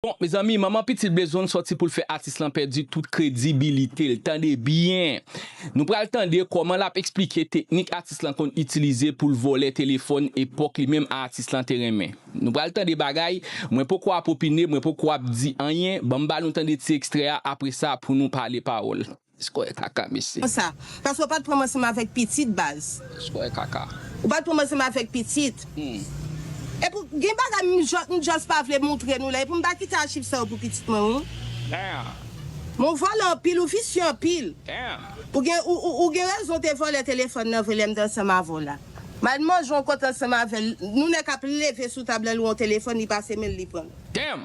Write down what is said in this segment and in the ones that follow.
Bon mezanmi manman pitit bezwn sòti poul fè atis lan pèdi tout kredibilitel tande byen Nou pral tande kòman lap esplike teknik atis lan konn itilize poul vòlè telefòn epòk li menm a atis lan te renmen Nou pral tande bagay mwen poko ap opine mwen poko ap di anyen banm ba nou tande ti ekstrè a apresa pou nou pale pawòl. Skòyè kaka mesye. Konsa. Paske ou pat pranm ansanm avèk pitit baz. Skòyè kaka. Ou pat pranm ansanm avèk pitit. Humm. Epi w gen bagay m just m just pa vle moutre nou la epi m pa kite achiv sa yo pou pitit mwen wi. Damn. Men w vòlè anpil ou visye anpil. Damn. Ou gen ou gen rezon w te vòlè telefòn nan vre lè m te ansanm avè w la. M al manje yon kote ansanm avè l nou nè kap leve sou tab la l wè yon telefòn li pase men l li pran l. Damn.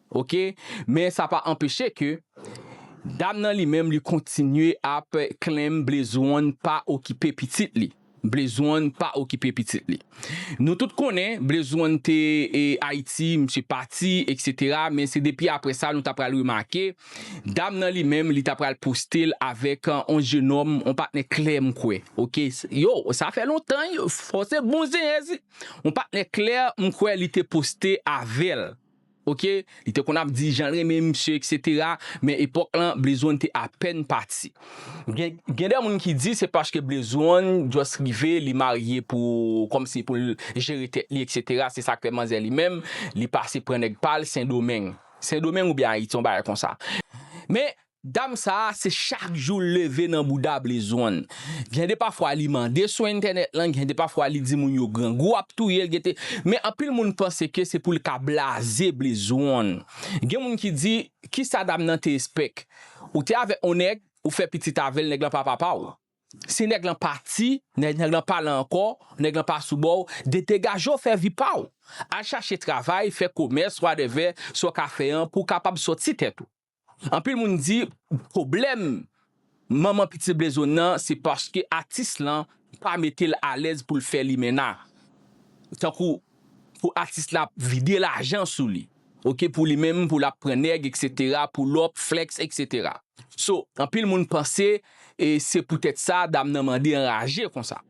Ok, men sa pa anpeche ke dam nan li menm li kontinye ap claim Blaze-one pa okipe pitit li. Blaze-one pa okipe pitit li. Nou tout konnen Blaze-one te Ayiti, misye pati etc. Men se depi apre sa nou ta pral remake dam nan li menm li ta pral poste l avèk on jenòm, on patnè klè m kwè. Ok, yo sa fè lontan yo, fò se bon zenyèz, on patnè klè m kwè li te poste avè l. Ok li te konn ap di janl renmen misye etc men epòk lan Blaze one te apèn pati gen de moun ki di se paske Blaze one just rive li marye pou kòmsi poul jere tèt li etc se sak fè manzè li menm li pase pran nèg pal sendomeng sendomeng oubyen ayiti yon bagay konsa men Dam sa a se chak jou l leve nan bouda blezon. Gen de pafwa li mande sou entènèt lan, gen de pafwa li di moun yo grangou ap touye l gen te men anpil moun panse ke se pou l ka blaze blezon. Gen moun ki di ki sa dam nan te espèk? Ou te avèk on nèg, ou fè pitit avè l, nèg lan pa papa w. Si nèg lan pati, nèg lan pa la ankò, nèg lan pa sou bò w, de degaje w fè vi pa w. Al chache travay, fè komès, wadèvè sa w ka fè an pou w kapab sòti tèt ou. Anpil moun di pwoblèm manman pitit Blezone nan se paske atis lan pa mete l alèz pou l fè limenna. Tankou pou atis la ap vide lajan sou li ok pou li menm pou l ap pran nèg etc pull up, flex etc. So anpil moun panse se poutèt sa dam nan mande anraje konsa.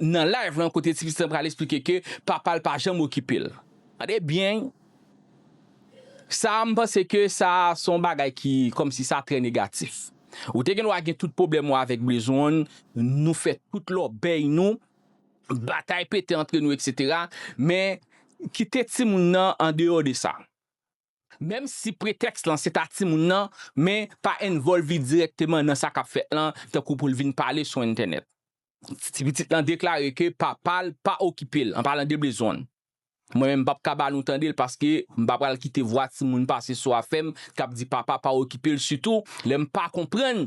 Nan live lan kote ti pitit lan pral esplike ke papa l pa janm okipe l. Tande byen sa a m panse ke sa a se yon bagay ki kòmsi sa trè negatif. Ou te gen dwa gen tout pwoblèm ou avèk Brizon, nou fè tout lòbèy nou, batay pete antre nou eksetera men kite timoun nan andeyò de sa. Menm si pretèks lan se ta timoun nan, men pa envòlvi dirèkteman nan sa k ap fèt lan, tankou pou l vin pale sou entènèt. Ti pitit lan deklare ke papa l pa okipe l, anpalan de bezwen l. Mwen menm m p ap ka ba nou tande l paske m pa pral kite vwa timoun pase sou afè m k ap di papa pa okipe l sitou lè m pa konprann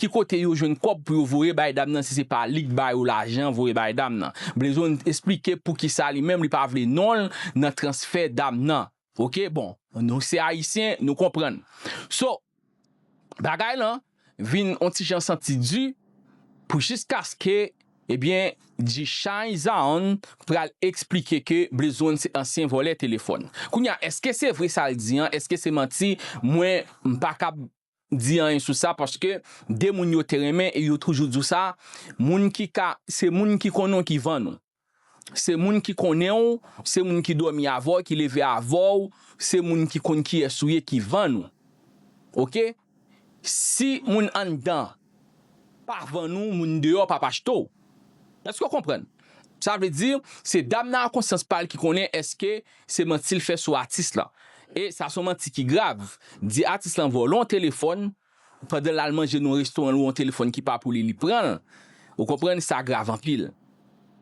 ki kote yo jwenn kòb pou yo voye bay dam nan si se pa li k ba yo lajan voye bay dam nan. Blezon esplike poukisa li menm li pa vle non l nan transfè dam nan ok bon nou se ayisyen nou konprann so bagay lan vin on ti jan santi di pou jiskaske ebyen G-shine Zaon pral esplike ke Blezon se ansyen vòlè telefòn. Kounya eske se vre sa l di an eske se manti mwen m pa kab di anyen sou sa paske de moun yo te renmen e yo toujou di w sa, moun ki ka, se moun ki konnen w ki vann ou. Se moun ki konnen w, se moun ki dòmi avè w, ki leve avè w, se moun ki konn kiyès ou ye ki vann ou. Ok, si moun anndan Pa vann ou moun deyò pap achte w. Èske w konprann? Sa vle di, se dam nan ak konsyans pa l ki konnen èske se manti l fè sou atis lan. E sa se yon manti ki grav. Di atis lan vòlò yon telefòn, pandan l al manje nan yon restoran l wè yon telefòn ki pa pou li, li pran l. Ou konprann, sa grav anpil.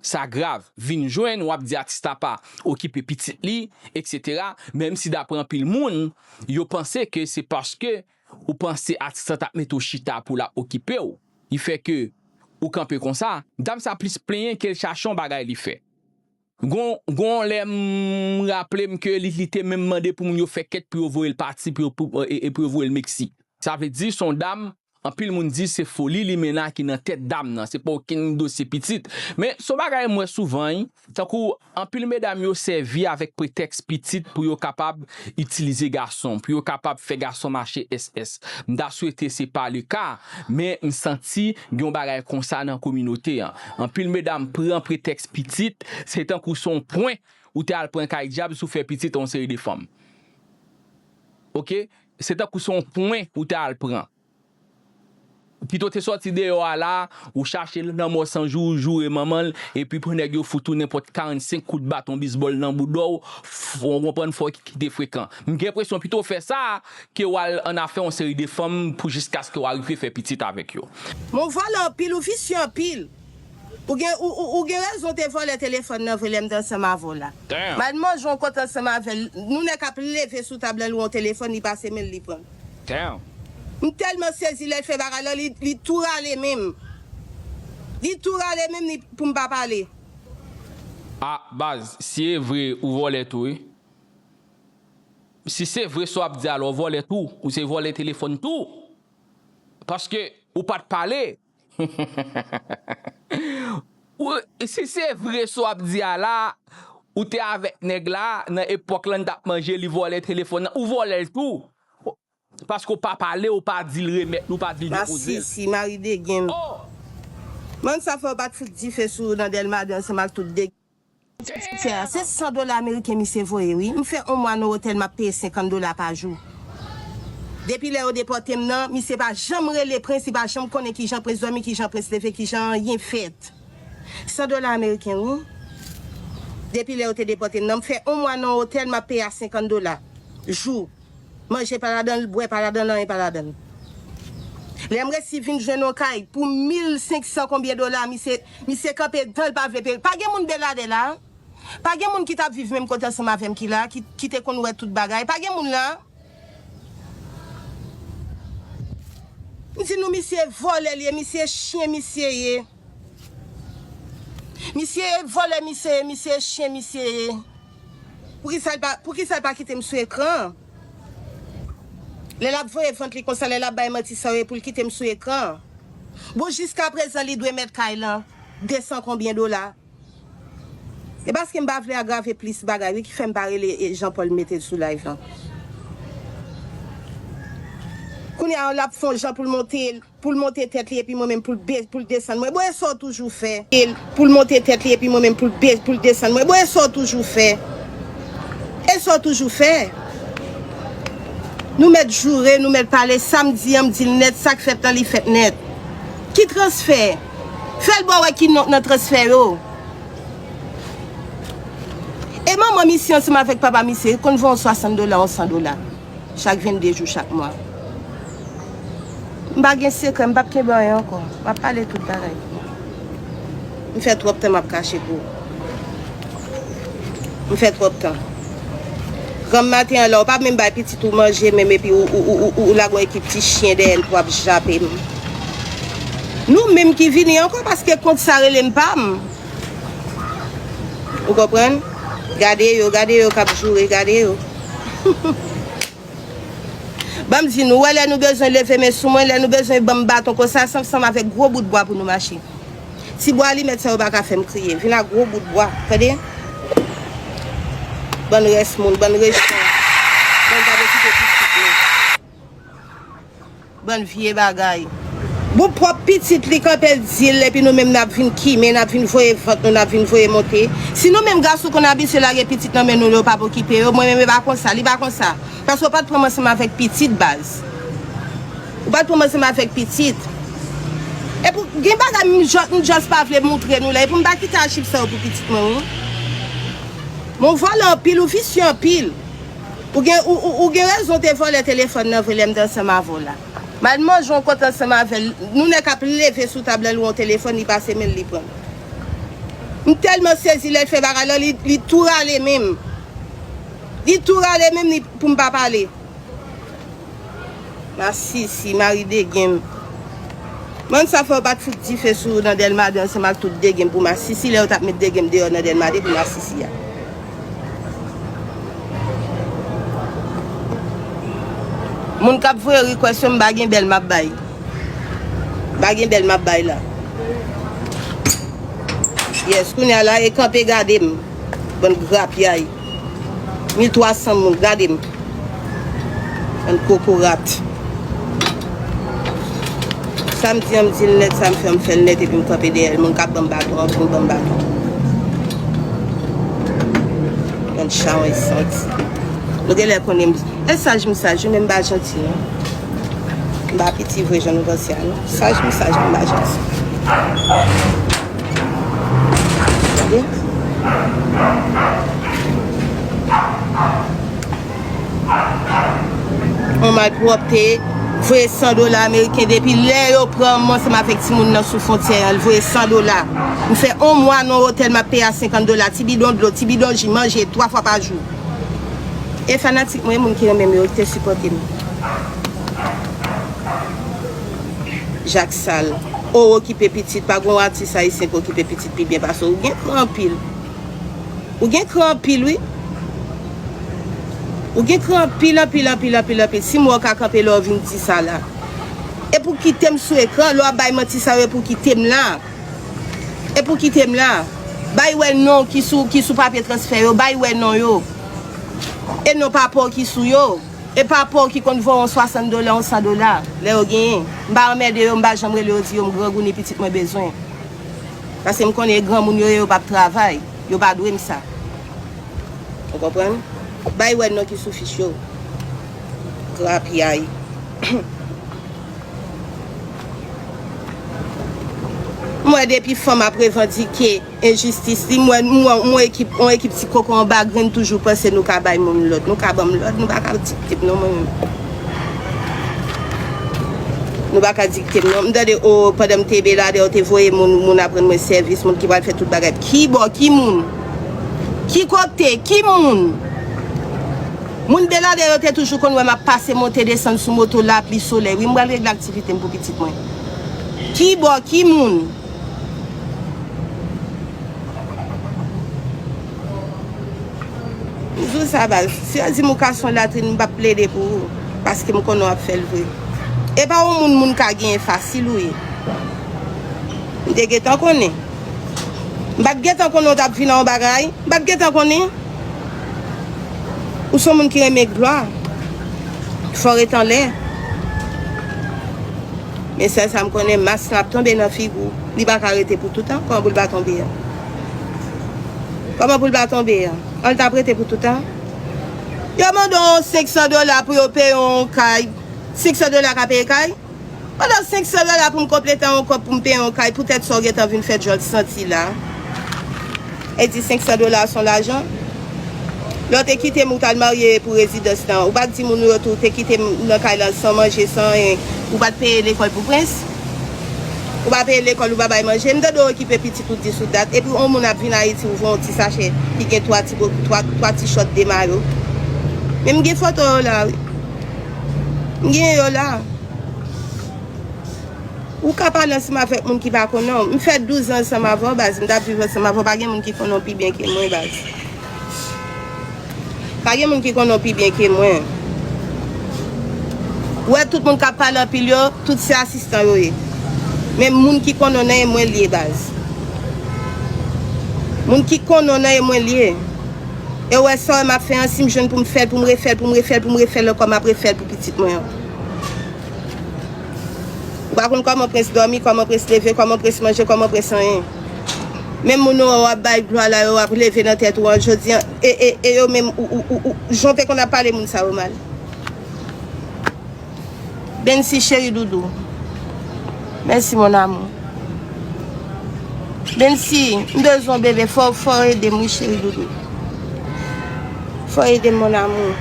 Sa grav. Vin jwenn, w ap di atis la pa okipe pitit li, eksetera, menm si daprè anpil moun, yo panse ke se paske Ou panse atis la tap mete w chita pou lap okipe w ki fè ke ou kanpe konsa. Dam sa plis plenyen kel chache yon bagay li fè. Gon gon yon lè m raplem ke li li te menm mande pou moun yo fè kèt pou yo voyel pati pou yo pou e pou yo voyel Mexique. Sa vle di son dam anpil moun di se foli limena ki nan tèt dam nan se pa okenn dosye pitit men son bagay m wè souvan wi. Tankou anpil medam yo sèvi avèk pretèks pitit pou yo kapab itilize gason, pou yo kapab fè gason mache SS. M ta swete se pa le ka, men m santi gen yon bagay konsa nan kominote an. Anpil medam pran pretèks pitit, se tankou se yon pwen ou te al pran kay dyab si w fè pitit a yon seri de fanm. Ok, se tankou se yon pwen ou te al pran. Pito te sòti deyò a la ou chache l lanmò san jou ou joure manman l epi pou nèg yo fout ou nenpòt 45 kout baton bizbòl nan bouda w ou konprann fò w kite frekan m gen enpresyon pito w fè sa ke w al annafè yon seri de fanm pou jiskaske w arive fè pitit avèk yo. Men w vòlè anpil ou visye anpil. Ou gen ou gen rezon te vòlè telefòn nan vre lèm t ansanm avè w la mal manje yon kòt ansanm avè l nou nèk ap leve sou tab lan lwe yon telefòn li pase men l li pran l m tèlman sezi lè l fè bagay lan li tou rale men m li tou rale men m li pou m pa pale. Ah baz si e vre ou vòlè tou wi. Si se vre sa w ap di a lè w vòlè tou ou se vòlè telefòn tou paske ou pat pale Heheheheheh si se vre sa wap di a la ou te avèk nèg la nan epòk lan li tap manje li vòlè telefòn nan ou vòlèl tou paske ou pa pale ou pa dil remèt li ou pa dil depozel. Masisi mari degen. Mansa fè ou pat fout dife sou nan delma 2 ansanm ak tout degen. Sè a se 100 dola ameriken misye voye wi m fè on mwa no otèl map peye 50 dola pa jou depi lè yo depòtem nan misye pa janm rele prens li pa janm konnen kijan prens dòmi kijan prens leve kijan anyen fèt 100 dola ameriken wi depi lè yo te depòtem nan m fè on mwa nan on otèl map peye a 50 dola jou. Manje pa ladan l, bwè pa ladan l, anyen pa ladan l. Lè m resi vin jwenn yon kay pou mil senk san konbyen dola, misye, misye kanpe dan l pa vle peye. Pa gen moun Beladè la a? Pa gen moun ki t ap viv menm kote ansanm avè m ki la a, ki, ki te konn wè tout bagay? Pa gen moun la a? M di nou misye vòlè l ye, misye chyen misye ye. Misye ye vòlè misye ye misye ye chyen misye ye. Poukisal pa kitem sou ekran an lè lap voye vant li konsa lè lap bay manti sa yo epoul kitem sou ekran an bon jiska prezan li dwe mèt kay lan 200 konbyen dola epaskem pa vle agrave plis bagay wi kifèm pa rele Jean Paul metel sou live lan kounya lap fon jan poul monte Poul monte tèt li epi mwen menm poul be poul desann mwen bon e sa w toujou fè. Poul monte tèt li epi mwen menm poul be poul desann mwen bon e sa w toujou fè. E sa w toujou fè. Nou mèt joure nou mèt pale sa m di an m di l nèt sa k fèt lan li fèt nèt. Ki transfè? Fè l ba w wè ki non k nan transfè yo. E manman misye ansanm avèk papa misye konn van w 60 dola ou 100 dola. chak 22 jou chak mwa. M pa gen sekrè, m pap kenbe anyen ankò. M ap pale tout bagay pou nou. M fè twòp tan m ap kache pou ou. M fè twòp tan. Granm maten an la ou pa menm bay pitit ou manje menm epi ou lage yon ekip ti chyen dèyè l pou ap jape m. Nou menm ki vini ankò paske kont sa rele m pa m. Ou konprann? Gade yo, gade yo kap joure, gade yo. Banm di nou, ou wè lè nou bezwen leve men sou mwen, lè nou bezwen banm baton konsa, sanm sanm avèk gwo bout bwa pou nou mache. Ti bwa alimèt sa yo pa ka fèm kriye. Vin ak gwo bout bwa, tande? Bann rès moun, bann rejten. Bann pa vle kite pitit nou. Bann vye bagay. Bon pwòp pitit li kanpe l di l epi nou menm nap vin kimen nap vin voye vant nou nap vin voye monte si nou menm gason konn abitye lage pitit nan men nou yo pap okipe yo mwen menm e pa konsa li pa konsa paske ou pat pranm ansanm avèk pitit baz ou pat pranm ansanm avèk pitit epi gen bagay m just pa vle moutre nou la epi m pa kite achiv sa yo pou pitit mwen wi men ou vòlè anpil ou visye anpil. Ou gen ou gen rezon w te vòlè telefòn nan vre lè m te ansanm avè w la. Mal manje w kontan ansanm avè l, nou nèk ap leve sou tab lan lwen w telefòn li pase men l li pran l. M tèlman sezi lè l fè bagay lan li tou rale men m. Li tou rale men m li pou m pa pale. Masisi mari degem. M'en sa fè yo pat fout dife sou nan delma 2 ansanm ak tout degem pou masisi lè yo tap met degem deyò nan delma 2 pou masisi a. Moun kap voye request yo m pa gen bèl map bay. M pa gen bèl map bay la. Yes kounya la e kanpe gade m. Bann grapyay. 1300 moun gade m. Bann kokorat. Sa m di an m di l nèt sa m fè an m fè l nèt epi m kanpe dèyè l moun k ap ban m baton an vin ban m baton. Bann chawony santi. Nou genlè konnen m e saj m saj wi men m pa janti non. M pa piti vre jan nou panse a non. Saj m saj men m pa janti. Yon malpwòpte, voye 100 dola ameriken depi lè yo pran m ansanm avèk ti moun nan sou fontyè an, l voye 100 dola. M fè yon mwa nan yon otèl m ap peye a 50 dola, ti bidon dlo, ti bidon ji, manje 3 fwa pa jou. E fanatik mwen, moun ki renmen m yo, ki te sipòte m. Jacques sal ou okipe pitit pa gon atis ayisyen ki okipe pitit pi byen pase w ou gen kran anpil ou gen kran anpil wi ou gen kran anpil anpil anpil anpil anpil si m wè w ka kanpe lè w vin di sa la e pou kite m sou ekran lè w ap bay manti sa yo e pou kite m la e pou kite m la bay wè non ki sou papye transfè yo bay wè non yo e non papa w ki sou yo. E pa pouw ki konn vo on 60 dola on 100 dola lè yo genyen. M pa anmède yo m pa janm rele yo di yo m grangouni pitit mwen bezwen. Paske m konnen e granmoun yo ye yo pap travay. Yo pa dwe m sa. Ou konprann? Bay wè non ki sou fich yo. Grapyay. M wè depi fanm ap revandike. Enjistis li m wè m wè on ekip on ekip ti koko anba grenn toujou panse nou ka bay moun lòd nou ka banm lòd nou pa ka dik tem non mwen menm nou pa ka dik tem non m tande o pandan m te beladè yo te voye moun moun ap rann mwen sèvis moun ki pral fè tout bagay ki bò ki moun ki kote ki moun moun beladè yo te toujou konn wè m ap pase monte desann sou moto lapli solèy wi m pral regle aktivite m pou pitit mwen ki bò ki moun. Jou sa baz, si yo di m ou ka son latrin m pap plede pou ou paske m konnen w ap fè l vre. E pa yon moun moun ka genyen fasil ou ye. M te gentan konnen. M pat gentan konnen w t ap vin nan yon bagay. M pat gentan konnen. Ou son moun ki renmen glwa. Fò w ret anlè. Men sèl sa m konnen, mas lan ap tonbe nan figi w. Li pa ka rete pou toutan. Kòman pou l pa tonbe an? Kòman pou l pa tonbe an? An l t ap rete pou toutan? Yo mande w 500 dola pou yo peye w yon kay. 500 dola ka peye kay? Mande w 500 dola pou m konplete yon kòb pou m peye yon kay poutèt sa w gen tan vin fè djòl santi la. E di 500 dola a s on lajan? Lè w te kite m ou t al marye pou rezidans lan, ou pa t di moun ou yo tou w te kite m nan kay lan san manje, san anyen. Ou pa t peye lekòl pou prens. Ou pa peye lekòl, ou pa bay manje. M tande w okipe pitit ou dis ou dat. Epi yon moun ap vin Ayiti ou jwenn yon ti sachè ki gen twa ti bo, twa ti chòt, de mayo. Men m gen foto yo la wi. M gen yo la. Ou ka pale ansanm avèk moun ki pa konnen w. M fè 12 ans ansanm avè w baz, m tap viv ansanm avè w, pa gen moun ki konnen w pi byen ke mwen baz. Pa gen moun ki konnen w pi byen ke mwen. Ou wè tout moun kap pale anpil yo, tout se asistan yo ye. Men moun ki konnen w nan e mwen li ye baz. Moun ki konnen w nan e mwen li ye. E ou wè sa w wè map fè an, si m jwenn pou m fè l, pou m refè l, pou m refè l, pou m refè l ankò map refè l pou pitit mwen an. Ou pa konn kòman prens dòmi, kòman prens leve, kòman prens manje, kòman prens anyen. Menm moun ou an wap bay glwa la yo ap leve nan tèt ou an jodi an e e e yo menm ou ou ou ou jan w te konn ap pale moun sa yo mal. Bensy cheri doudou Mèsi mon amour Bensy m bezwen w bebe fò w fò w ede m wi cheri doudou. Fo edem mon amour.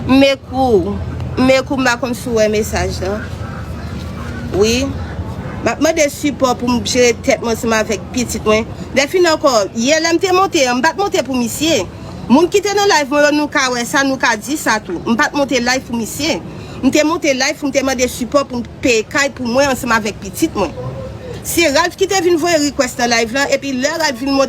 M ekriw. M ekriw m pa konn si w wè mesaj lan. Wi. Map mande sipò pou m jere tèt mwen ansanm avèk pitit mwen. Dèfin ankò, yè lè m te monte an, m pat monte pou misye. Moun ki te nan live mwen yo nou ka wè sa, nou ka di sa tou. M pat monte live pou misye. M te monte live pou m te mande sipò pou m. Peye kay pou mwen ansanm avèk pitit mwen. Se Ralph ki te vin voye request nan live lan epi lè Ralph vin monte.